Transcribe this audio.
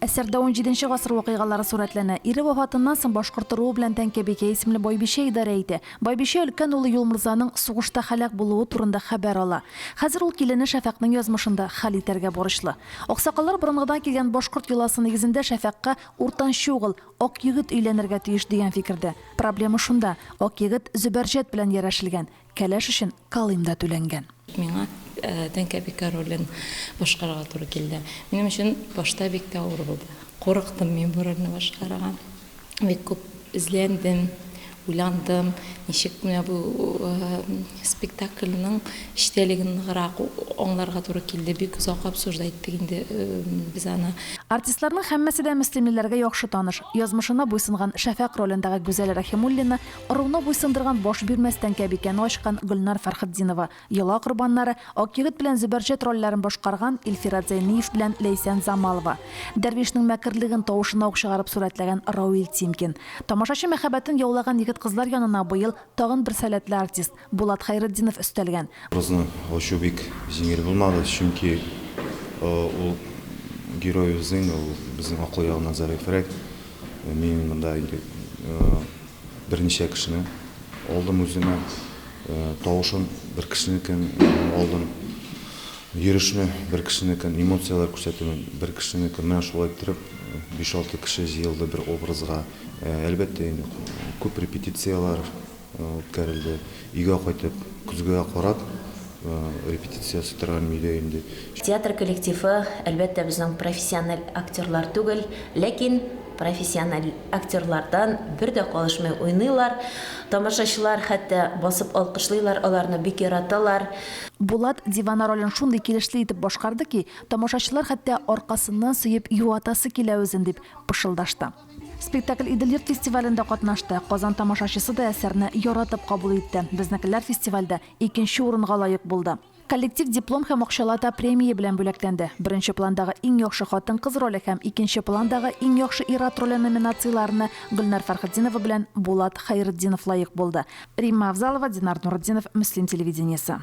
Әсәрдә унҗиденче гасыр вакыйгалары сурәтләнә. Ире вафатыннан соң башкорт ыруы белән Тәңкәбикә исемле байбичә идарә итә. Байбичә өлкән улы Юлморзаның сугышта һәлак булуы турында хәбәр ала. Хәзер ул килене Шәфәкънең язмышын да хәл итәргә бурычлы. Аксакаллар борынгыдан килгән башкорт йоласы нигезендә Шәфәкъка уртанчы угыл, Акъегет өйләнергә тиеш дигән фикердә. Проблема шунда, Акъегет Зөбәрҗәт белән ярәшелгән. Кәләш өчен калим да түләнгән. Миңа тәңкәбикә ролен башкарырга туры килде. Минем өчен башта бик тә авыр булды. Курыктым мин бу рольне башкарырга. Бик күп эзләндем, уйландым, ничек менә бу спектакльнең эчтәлеген ныграк аңларга туры килде. Бик озак обсуждать иттек инде без аны. Артистларның һәммәсе дә мөслимлеләргә яхшы таныш. Язмышына буйсынган Шәфәкъ ролендагы Гүзәл Рәхимуллина Ыруны буйсындырган баш бирмәс тәңкәбикәне ачкан Гөлнар Фәрхетдинова, Йола корбаннары, Акъегет белән Зөбәрҗәт трольләрен башкарган Илфират Зәйниев белән Ләйсән Замалова, Дәрвишнең мәкерлеген тавышына ук чыгарып сурәтләгән Равил Тимкин. Тамашачы мәхәббәтен яулаган егет-кызлар янына быел тагын бер сәләтле артист, Булат Хәйретдинов өстәлгән. Кызны ачу бик җиңел булмады, чөнки ул героебыз инде, ул безнең акыл ягыннан зәгыйфьрәк. Мин монда инде берничә кешене алдым үземә. Тавышын бер кешенекен алдым, йөрешне бер кешенекен, эмоцияләр күрсәтүен бер кешенекен. Менә шулай иттереп, биш-алты кеше җыелды бер образга. Әлбәттә инде, күп репетицияләр. үткәрелде. Өйгә кайтып, көзгегә карап, репетиция сыттырган миле инде. Театр коллективы, әлбәттә, безнең профессиональ актерлар түгел, ләкин профессиональ актерлардан бер дә калышмый уйныйлар. Тамашачылар хәтта басып алкышлыйлар, аларны бик яраталар. Булат Дивана ролен шундый килешле итеп башкарды ки, тамашачылар хәтта аркасыннан сөеп юатасы килә үзен, дип пышылдашты. Спектакль Идел-йорт фестивалендә катнашты. Казан тамашачысы да әсәрне яратып кабул итте. Безнекеләр фестивальдә икенче урынга лаек булды. Коллектив диплом һәм акчалата премия белән бүләкләнде. Беренче пландагы иң яхшы хатын-кыз роле һәм икенче пландагы иң яхшы ир-ат роле номинацияләренә Гөлнар Фәрхетдинова белән Булат Хәйретдинов лаек булды. Римма Авзалова, Динар Нуретдинов, Мөслим телевидениесе.